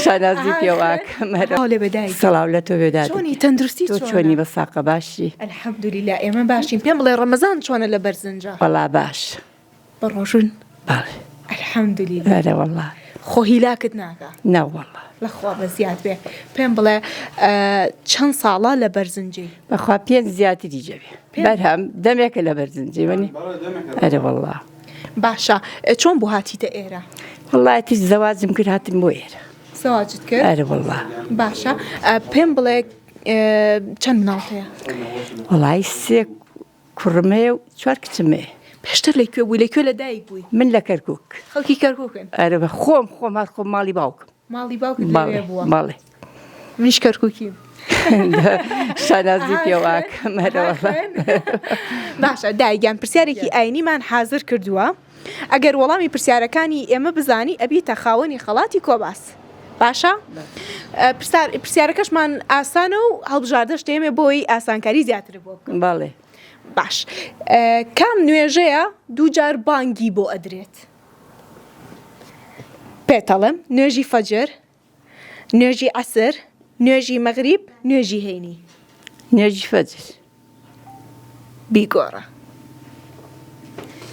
شانازی پێواکەم سەڵاو لە تۆ بێدانی تەندروستی چۆنی بە ساقە باشی ئەلحەمدولی لا ئێمە باشین پێم بڵێ ڕەمەزان چۆنە لە بەرزنجە بەڵا باش بە ڕۆژون ئەلحەمدولی لەرە وڵا خۆ هیلاکت ناکە ناوەڵە لەخوا بە زیاد بێ پێم بڵێ چەند ساڵە لە بەرزنجی بەخوا پێ زیاتری جەوێ بەرهەم دەمێکە لە بەرزنجی وەنی ئەرە وڵا. باشە چۆن بوو هاتیتە ئێرە؟ وڵایەتی زەواجم کرد هاتم بۆ ئێرە زەواجت کرد؟ ئەرە وڵا باشە پێم بڵێ چەند مناڵ هەیە؟ وڵی سێ کوڕمێ و چوار کچمێ پێشتر لە کوێ بووی لە کوێ لە دایک بووی من لە کەرکک خەڵکی کەرککن ئەرە بە خۆم خۆم هەر خۆم ماڵی باوکم ماڵی باوکت لەوێ بووە؟ بەڵێ. منیش کەرکووکیم. شانازی پێوە کەمەرەوە. باشە دایگیان پرسیارێکی ئاینیمان حازر کردووە. ئەگەر وەڵامی پرسیارەکانی ئێمە بزانی ئەبیتە خاوەنی خەڵاتی کۆباس. باشە پرسیارەکەشمان ئاسانە و هەڵبژاردەش دێمێ بۆی ئاسانکاری زیاتر بۆ باڵێ باش کام نوێژەیە دووجار بانگی بۆ ئەدرێت پێتەڵێم نوێژی فەجر نوێژی عەسر نوێژی مەغریب نوێژی هەینی. نوێژی فەجر بیگۆڕە.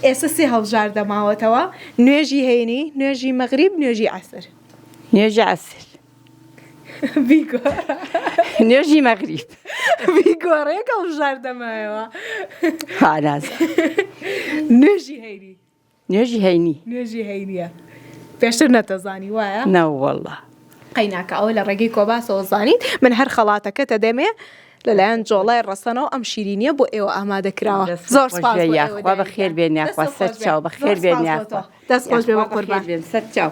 ئێستا سێ هەڵبژار دەماوەتەوە نوێژی هەینی نوێژی مەغریب نوێژی عسر نوێژی عسر نوێژی مەغریب بیگۆڕێک هەڵبژار دەمایەوە نوێژی هەینی نوێژی هەینی. نوێژی هەینیە پێشتر نەتەزانی وایە؟ نەوەڵا. قەیناکە ئەوە لە ڕێگەی کۆباسەوە زانین من هەر خەڵاتەکەتە دەمێ لەلایەن جۆڵای ڕەسەنەوە ئەم شیرینیە بۆ ئێوە ئامادە کراوە زۆر بەخێر بێنیاخوا سەر چاو بەخێر بێنیاخوا دەست خۆش بێ بە قوربان سەر چاو.